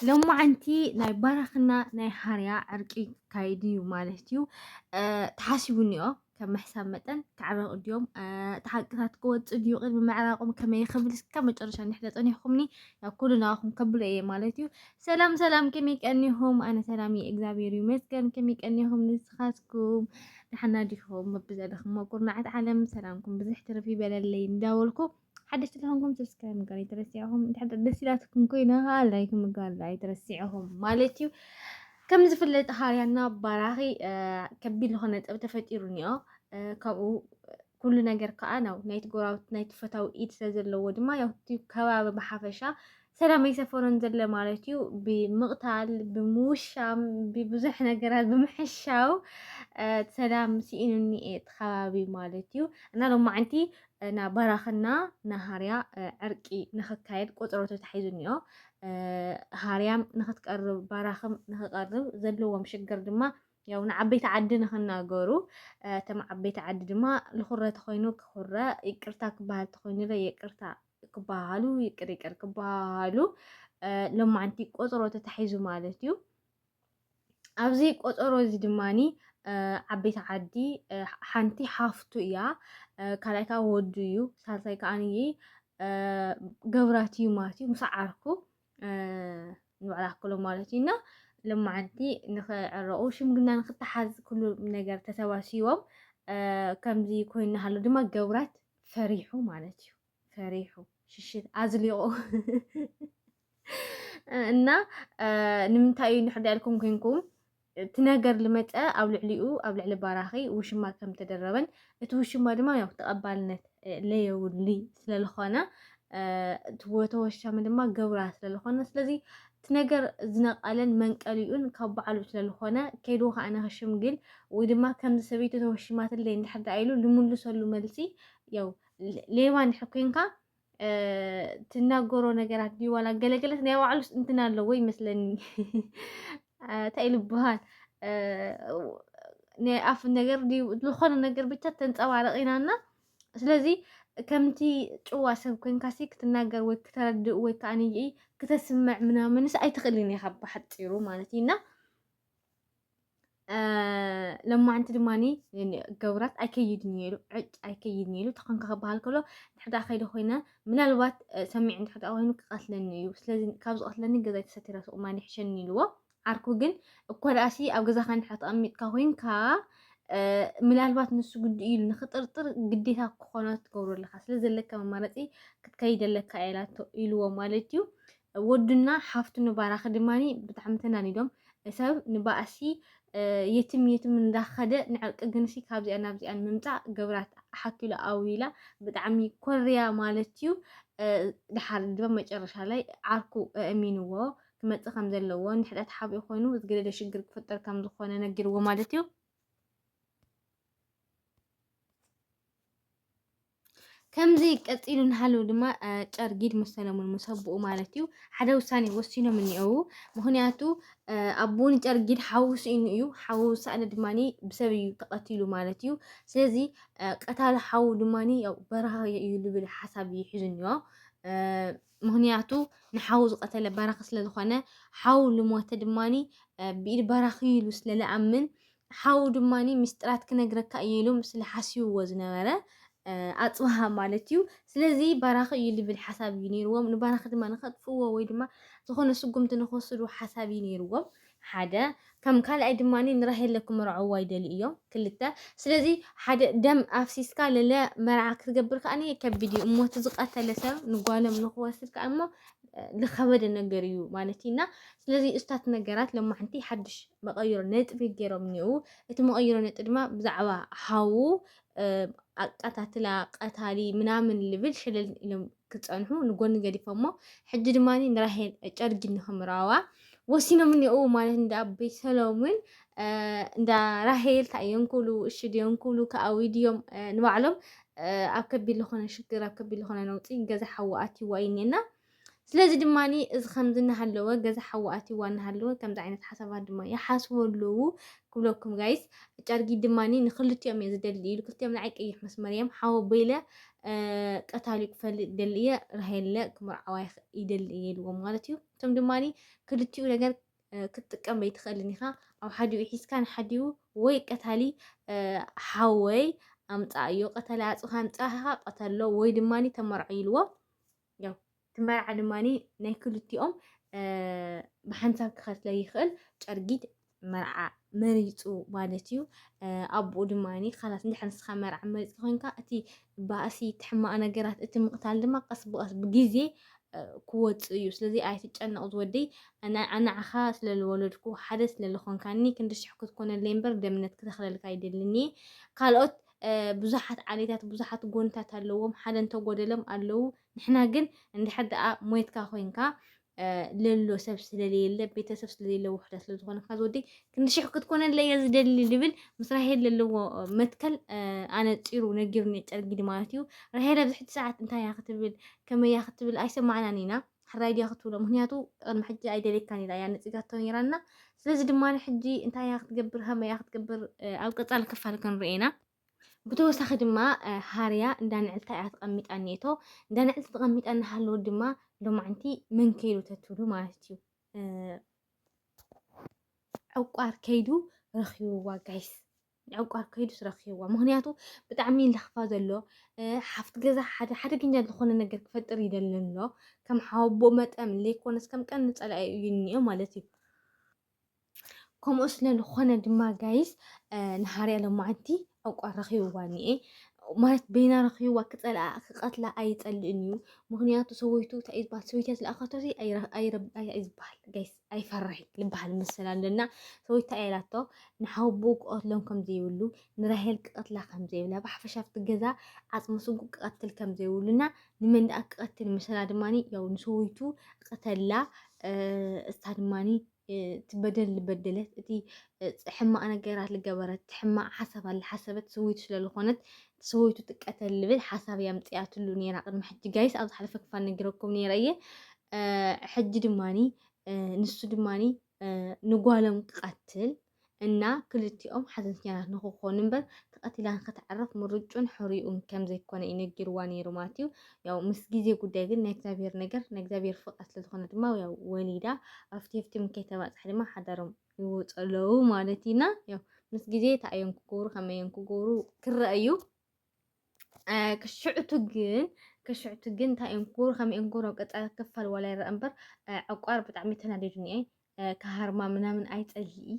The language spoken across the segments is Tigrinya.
ሎማዓንቲ ናይ ባራኽና ናይ ሃርያ ዕርቂ ክካየድ እዩ ማለት እዩ ተሓሲቡ እኒኦ ከም ምሕሳብ መጠን ክዕረቑ ድዮም እቲ ሓቅታት ክወፅ ድዩ ቅድሚ ምዕራቆም ከመይ ክብል እስከ መጨረሻ እንድሕር ተፀኒሕኩምኒ ናብ ኩሉ ናባኹም ከብሎ እየ ማለት እዩ ሰላም ሰላም ከመይ ቀኒኹም ኣነ ሰላም እየ እግዚኣብሔር ይመስገን ከመይ ቀኒኹም ንስኻትኩም ድሓና ዲኹም በብዘለኹም ኩርናዓት ዓለም ሰላምኩም ብዝሕ ትርፍ ይበለለይ እንዳበልኩ ሓደሽቲ ተኾንኩም ሰብስክራይብ ምግባር ኣይትረስዕኹም እንድሕር ደስ ኢላትኩም ኮይና ከዓ ላይክ ምግባር ኣይትረስዕኹም ማለት እዩ ከም ዝፍለጥ ሃርያና ባራኺ ከቢድ ዝኾነ ጠብ ተፈጢሩ እኒኦ ካብኡ ኩሉ ነገር ከዓ ናው ናይቲ ጎራብት ናይቲ ፈታዊ ኢድ ስለ ዘለዎ ድማ ያውቲ ከባቢ ብሓፈሻ ሰላም ኣይሰፈሮን ዘለ ማለት እዩ ብምቕታል ብምውሻም ብብዙሕ ነገራት ብምሕሻው ሰላም ስኢኑኒ እየ ተኸባቢ ማለት እዩ እና ሎማዓንቲ ና ባራኽና ና ሃርያ ዕርቂ ንኽካየድ ቆፅሮ ተታሒዙኒዮ ሃርያም ንኽትቀርብ ባራኽም ንኽቀርብ ዘለዎም ሽግር ድማ ያው ንዓበይቲ ዓዲ ንኽናገሩ እቶም ዓበይቲ ዓዲ ድማ ልኹረ ተኾይኑ ክኹረ ይቅርታ ክበሃል ተኾይኑ ለ ይቅርታ ክበሃሉ ይቅር ይቅር ክበሃሉ ሎማዓንቲ ቆፅሮ ተታሒዙ ማለት እዩ ኣብዚ ቆፀሮ እዚ ድማኒ ዓበይቲ ዓዲ ሓንቲ ሓፍቱ እያ ካልኣይ ከዓ ወዱ እዩ ሳልሳይ ከዓ ንይ ገብራት እዩ ማለት እዩ ምስ ዓርኩ ንባዕላ ክሎ ማለት እዩ እና ልማዓንቲ ንክዕረቑ ሽምግና ንክተሓዝ ኩሉ ነገር ተሰባሲቦም ከምዚ ኮይኑ ሃሎ ድማ ገብራት ፈሪሑ ማለት እዩ ፈሪሑ ሽሽት ኣዝሊቑ እና ንምንታይ እዩ ንሕዳ ኢልኩም ኮንኩም እቲ ነገር ልመፀ ኣብ ልዕሊኡ ኣብ ልዕሊ ባራኺ ውሽማ ከም ተደረበን እቲ ውሽማ ድማ ያው ተቐባልነት ለየውሊ ስለዝኾነ እቲ ወተወሻሚ ድማ ገብራ ስለዝኾነ ስለዚ እቲ ነገር ዝነቀለን መንቀሊኡን ካብ ባዕሉ ስለ ልኾነ፣ ከይዱ ኸኣ ንኽሽምግል ወይ ድማ ከምዚ ሰበይቱ ተወሺማትለይ እንድሕር ደኣ ኢሉ ልምልሰሉ መልሲ ያው ሌባ እንድሕር ኮንካ ትናገሮ ነገራት ድዩ ዋላ ገለገለት ናይ ባዕሉስ እንትን ኣለዎ ይመስለኒ እንታይ ልበሃል ናይ ኣፍ ነገር ዝኾነ ነገር ብቻ ተንፀባረቂናና ስለዚ ከምቲ ጭዋ ሰብ ኮንካሲ ክትናገር ወይ ክተረድእ ወይ ከዓ ንይኢ ክተስምዕ ምናምንስ ኣይትኽእልን ኢኻ ብሓፂሩ ማለት እዩ እና ለማዓንቲ ድማኒ ገብራት ኣይከይድን እየ ኢሉ ዕጭ ኣይከይድን እየ ኢሉ ተኾንካ ክበሃል ከሎ ንሕዳ ከይደ ኮይነ ምናልባት ሰሚዕ እንድሕዳ ኮይኑ ክቐትለኒ እዩ ስለዚ ካብ ዝቐትለኒ ገዛይ ተሰቲረ ሱቕ ማይ ይሕሸኒ ኢልዎ ዓርኩ ግን እኳደኣሲ ኣብ ገዛኻ እንድሕር ተቐሚጥካ ኮይንካ ምናልባት ንሱ ግዲ ኢሉ ንክጥርጥር ግዴታ ክኾኖ ትገብሮ ኣለካ ስለ ዘለካ መማረፂ ክትከይድ ኣለካ ኢላቶ ኢልዎ ማለት እዩ ወዱና ሓፍቱ ንባራኺ ድማ ብጣዕሚ ተናኒዶም ሰብ ንባእሲ የትም የትም እንዳኸደ ንዕርቂ ግንሲ ካብዚኣ ናብዚኣን ምምፃእ ገብራት ሓኪሉ ኣውይላ ብጣዕሚ ኮርያ ማለት እዩ። ድሓር ድማ መጨረሻ ላይ ዓርኩ እሚንዎ ክመጽእ ከም ዘለዎ ንሕዳ ተሓቢኡ ኮይኑ ዝገደደ ሽግር ክፍጠር ከም ዝኾነ ነጊርዎ ማለት እዩ። ከምዚ ቀፂሉ እናሃለዉ ድማ ጨርጊድ ምስ ሰለሙን ምስ ኣቦኡ ማለት እዩ ሓደ ውሳኔ ወሲኖም እኒአዉ ምክንያቱ ኣቦ ንጨርጊድ ሓዉ ስኢኑ እዩ ሓዉ ሳእነ ድማ ብሰብ እዩ ተቐቲሉ ማለት እዩ ስለዚ ቀታሊ ሓዉ ድማ ያው በረሃ እዩ ዝብል ሓሳብ እዩ ሒዙ እኒኦ ምኽንያቱ ንሓው ዝቐተለ ባራኺ ስለ ዝኾነ፣ ሓው ልሞተ ድማ ብኢድ ባራኺ'ዩ ኢሉ ስለ ልኣምን፣ ሓው ድማ ምስጢራት ክነግረካ እየ ኢሉ ስለ ሓሲብዎ ዝነበረ ኣጽብሃ ማለት እዩ። ስለዚ ባራኺ እዩ ልብል ሓሳብ እዩ ነይርዎም። ንባራኺ ድማ ንኸጥፍእዎ ወይ ድማ ዝኾነ ስጉምቲ ንኽወስዱ ሓሳብ እዩ ነይርዎም። ሓደ ከም ካልኣይ ድማ ንራሄለ ክምርዐዋ ይደልዩ እዮም ክልተ ስለዚ ሓደ ደም ኣፍሲስካ ለለ መርዓ ክትገብር ከኣ ከቢድ እዩ እሞ እቲ ዝቀተለ ሰብ ንጓሎም ንክወስድ ከኣ እሞ ዝኸበደ ነገር እዩ ማለት እዩ እና ስለዚ እስታት ነገራት ሎማሕንቲ ሓድሽ መቐይሮ ነጥቢ ገይሮም እኒኡ እቲ መቐይሮ ነጥቢ ድማ ብዛዕባ ሃዉ ኣቀታትላ ቀታሊ ምናምን ልብል ሸለል ኢሎም ክጸንሑ ንጎኒ ገዲፎሞ ሕጂ ድማ ንራሄል ጨርጊ ንክምራዋ ወሲኖም እኒኦ ማለት እንዳ ኣቦይ ሰሎምን እንዳ ራሄል እንታይ እዮም ክብሉ እሺ ድዮም ክብሉ ከኣዊ ድዮም ንባዕሎም ኣብ ከቢድ ዝኾነ ሽግር ኣብ ከቢድ ዝኾነ ነውፂ ገዛ ሓዊ ኣትይዋ እዩ እኒኤና ስለዚ ድማ እዚ ከምዚ እናሃለወ ገዛ ሓዊ ኣትይዋ እናሃለወ ከምዚ ዓይነት ሓሳባት ድማ ይሓስቡ ኣለዉ ክብለኩም ጋይስ ጨርጊ ድማ ንክልቲኦም እየ ዝደሊ ኢሉ ክልቲኦም ንዓይ ቀይሕ መስመር እዮም ሓወ በይለ ቀታሊ ክፈልጥ ይደሊ እየ ራሄለ ክምርዓዋ ይደሊ እየ ኢልዎም ማለት እዩ እቶም ድማ ክልቲኡ ነገር ክትጥቀም በይትኽእልን ኢኻ ኣብ ሓዲኡ ሒዝካ ንሓዲኡ ወይ ቀታሊ ሓወይ ኣምፃ እዮ ቀታሊ ኣፅኻ ኣምፃኻ ቀተሎ ወይ ድማ ተመርዖ ኢልዎ ያው እቲ መርዓ ድማ ናይ ክልቲኦም ብሓንሳብ ክኸትለ ይኽእል ጨርጊት መርዓ መሪፁ ማለት እዩ ኣቦኡ ድማ ካላት እንድሕር ንስኻ መርዓ መሪፅ ኮይንካ እቲ ባእሲ እቲ ሕማቕ ነገራት እቲ ምቕታል ድማ ቀስ ብቐስ ብግዜ ክወፅእ እዩ ስለዚ ኣይትጨነቕ ዝወደይ ኣናዓኻ ስለ ዝወለድኩ ሓደ ስለ ዝኾንካኒ ክንዲ ሽሕ ክትኮነለይ እምበር ደምነት ክተኽለልካ ይደልኒ ካልኦት ብዙሓት ዓሌታት ብዙሓት ጎንታት ኣለዎም ሓደ እንተጎደሎም ኣለዉ ንሕና ግን እንድሕር ደኣ ሞይትካ ኮይንካ ለሎ ሰብ ስለለየለ ቤተሰብ ስለሌለ ውሕዳ ስለዝኾነ ካብ ወዲ ክንዲ ሽሕ ክትኮነለ እየ ዝደሊ ዝብል ምስ ራሄል ዘለዎ መትከል ኣነፂሩ ነጊሩኒ ጨርጊዲ ማለት እዩ ራሄል ኣብዚ ሕጂ ሰዓት እንታይ እያ ክትብል ከመይ እያ ክትብል ኣይሰማዕናን ኢና ሕራይ ድያ ክትብሎ ምክንያቱ ቅድሚ ሕጂ ኣይደልየካን ኢላ እያ ነጺጋቶ ነይራና ስለዚ ድማ ሕጂ እንታይ እያ ክትገብር ከመይ እያ ክትገብር ኣብ ቀጻሊ ክፋል ክንርኤ ኢና ብተወሳኺ ድማ ሃርያ እንዳ ንዕልታ እያ ተቐሚጣ እኒኤቶ እንዳ ንዕልቲ ተቐሚጣ እናሃለወ ድማ ሎማዕንቲ መን ከይዱ ተትብሉ ማለት እዩ ዕቋር ከይዱ ረኺብዋ ጋይስ ንዕቋር ከይዱስ ረኺብዋ ምክንያቱ ብጣዕሚ ለኽፋ ዘሎ ሓፍት ገዛ ሓደ ሓደገኛ ዝኾነ ነገር ክፈጥር ይደሊ ኣሎ ከም ሓቦ መጠን ዘይኮነስ ከም ቀን ንጸላኢ እዩ እኒኦ ማለት እዩ ከምኡ ስለ ዝኾነ ድማ ጋይስ ንሃርያ ሎማዓንቲ ዕቋር ረኺብዋ እኒኤ ማለት በይና ረኺብዋ ክጸልኣ ክቐትላ ኣይጸልእን እዩ ምክንያቱ ሰበይቱ እንታይ እዩ ዝበሃል ሰበይትያ ዝለኣኸቶ ኣይዝበሃል ጋይስ ኣይፈርሕይ ልበሃል መሰል ኣለና ሰበይቱ እንታይ ኢላቶ ንሓወቦኡ ክቐትሎም ከም ዘይብሉ ንራሄል ክቐትላ ከም ዘይብላ ብሓፈሻ ኣብቲ ገዛ ዓፅሚ ስጉ ክቐትል ከም ዘይብሉና ንመን ደኣ ክቐትል መሰላ ድማ ያው ንሰበይቱ ቐተላ እሳ ድማ ትበደል ዝበደለት እቲ ሕማቕ ነገራት ዝገበረት ሕማቕ ሓሳባት ዝሓሰበት ሰበይቱ ስለዝኾነት ሰወይቱ ትቀተል ልብል ሓሳብ እያ ኣምፅኣትሉ ነይራ ቅድሚ ሕጂ ጋይስ ኣብ ዝሓለፈ ክፋል ነጊረኩም ነይረ እየ ሕጂ ድማኒ ንሱ ድማኒ ንጓሎም ክቀትል እና ክልቲኦም ሓዘንተኛታት ንክኾኑ እምበር ተቐቲላ ንክትዕረፍ ምርጩን ሕርኡን ከም ዘይኮነ እዩ ነጊርዋ ነይሩ ማለት እዩ። ያው ምስ ግዜ ጉዳይ ግን ናይ እግዚኣብሔር ነገር ናይ እግዚኣብሔር ፍቃድ ስለዝኾነ ድማ ያው ወሊዳ ኣብቲ ኣብቲ ከይተባፅሐ ድማ ሓዳሮም ይወፁ ኣለዉ ማለት ኢና ያው ምስ ግዜ እንታይ እዮም ክገብሩ ከመይ እዮም ክገብሩ ክረአ እዩ ክሽዕቱ ግን ክሽዕቱ ግን እንታይ እዮም ክገብሩ ከመይ እዮም ክገብሩ ኣብ ቀፃሊ ክፋል ዋላ ይረአ እምበር ዕቋር ብጣዕሚ ተናዲዱኒ እየ ካሃርማ ምናምን ኣይጸልኢ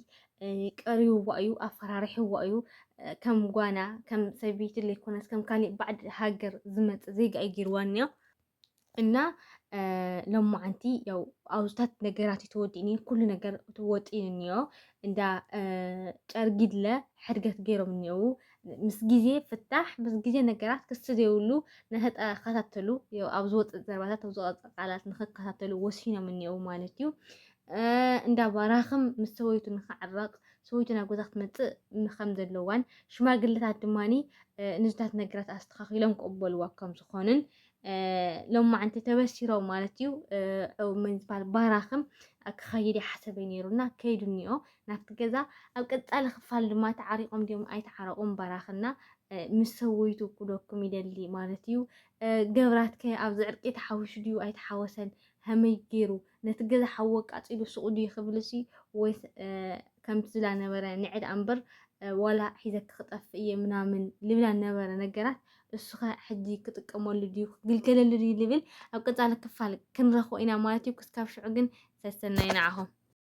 ቀሪውዋ እዩ ኣፈራሪሕዋ እዩ ከም ጓና ከም ሰበይቲ ዘይኮነስ ከም ካሊእ ባዕዲ ሃገር ዝመፅእ ዜጋ እዩ ገይርዋ እኒኦ እና ሎማዓንቲ ያው ኣብታት ነገራት ተወዲእኒ ኩሉ ነገር ወጢን እኒኦ እንዳ ጨርጊድለ ሕድገት ገይሮም እኒኦው ምስ ግዜ ፍታሕ ምስ ግዜ ነገራት ክስ ዘይብሉ ንክከታተሉ ኣብ ዝወፅእ ዘርባታት ኣብ ዝወፅ ቃላት ንክከታተሉ ወሲኖም እኒኦው ማለት እዩ እንዳ ባራኽም ምስ ሰበይቱ ንክዕረቕ ሰበይቱ ናብ ገዛ ክትመፅእ ከም ዘለዋን ሽማግለታት ድማኒ ንዝታት ነገራት ኣስተኻኺሎም ክቕበልዋ ከም ዝኾንን ሎማዓንቲ ተበሲሮም ማለት እዩ ምን ዝበሃል ባራኽም ክኸይድ ይሓሰበ ነይሩና ከይዱ እኒኦ ናብቲ ገዛ ኣብ ቀፃሊ ክፋል ድማ ተዓሪቆም ድዮም ኣይተዓረቑም ባራኽና ምስ ሰወይቱ ኩደኩም ይደሊ ማለት እዩ ገብራት ከ ኣብዚ ዕርቂ ተሓዊሹ ድዩ ኣይተሓወሰን ሀመይ ገይሩ ነቲ ገዛ ሓወ ቃፂሉ ሱቑ ድዩ ክብል ሲ ወይ ከምቲ ዝላ ነበረ ንዕድ ኣንበር ዋላ ሒዘ ክክጠፍ እየ ምናምን ልብላ ነበረ ነገራት እሱኸ ሕጂ ክጥቀመሉ ድዩ ክግልገለሉ ድዩ ልብል ኣብ ቀጻሊ ክፋል ክንረኽቦ ኢና ማለት እዩ። ክስካብ ሽዑ ግን ሰሰናዩ ንዓኹም።